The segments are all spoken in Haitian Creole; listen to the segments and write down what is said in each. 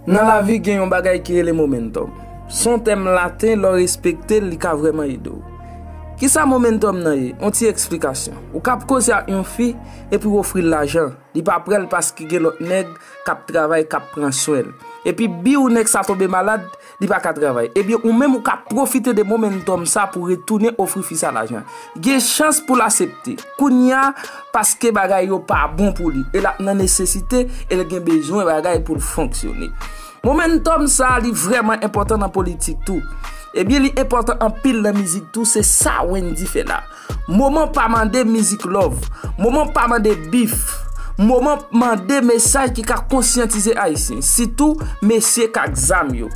Nan lavi gen yon bagay ki rele momentum. Son tèm laten lò respekte li ka vreman ede w. Ki sa momentum nan ye? Yon ti eksplikasyon. Ou kap koze ak yon fi epi w ofri l lajan. Li pa pre l paske gen lòt nèg kap travay kap pran swen l. Epi biw nèg sa tonbe malad. Li pa ka travay. Ebyen ou menm ou ka pwofite de momentum sa pou retounen ofri fi sa lajan. Gen chans pou l asepte. Kounya paske bagay yo pa bon pou li. E l ap nan nesesite e l gen bezwen bagay pou l fonksyone. Momentum sa li vreman enpotan nan politik tou. Ebyen li enpotan anpil nan mizik tou se sa Wendy fè la. Moman pa mande mizik love. Moman pa mande bif. Moman mande mesaj ki ka konsyantize Ayisyen. Sitou mesye k ak zam yo.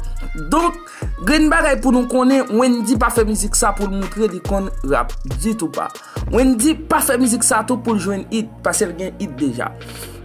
Donk, gen yon bagay pou nou konnen, Wendy pa fè mizik sa pou l montre li konn rap. Ditou pa. Wendy pa fè mizik sa tou pou l jwenn it, pase l gen it deja.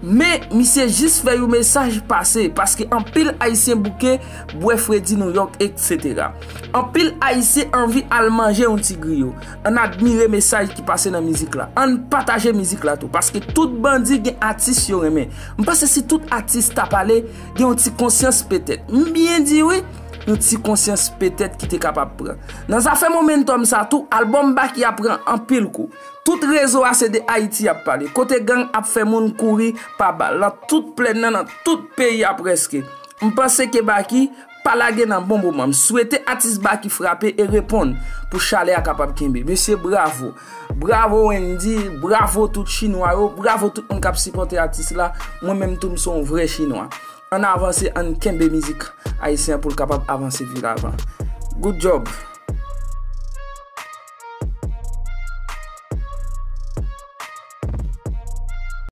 Men, misye jis fè yon mesaj pase, paske anpil Ayisyen bouke, bwè fredi Nouyòk, eksetera. Anpil Ayisyen anvi al manje yon ti griyo. Ann admire mesaj ki pase nan mizik la. Ann pataje mizik la tou. Paske tout bandi gen atis yo renmen. M panse si tout atis ta pale, gen yon ti konsyans petèt. M byen di wi, yon ti konsyans petèt ki te kapab pran. Nan zafè momentòm sa tou, albòm Baky a pran anpil kou. Tout rezo a se de Ayiti y ap pale. Kote gang ap fè moun kouri pa bal. Nan tout plenn nan, nan tout peyi a prèske. M panse ke Baky Pa lage nan bon moman. M swete atis Baky frape e reponn pou chalè a kapab kenbe. Mesye bravo. Bravo Wendy, bravo tout chinwa yo, bravo tout moun kap sipòte atis la. Mwen menm tou m se yon vrè chinwa. Ann avanse, ann kenbe mizik ayisyen an pou l kapab avanse pi lavan. Good job!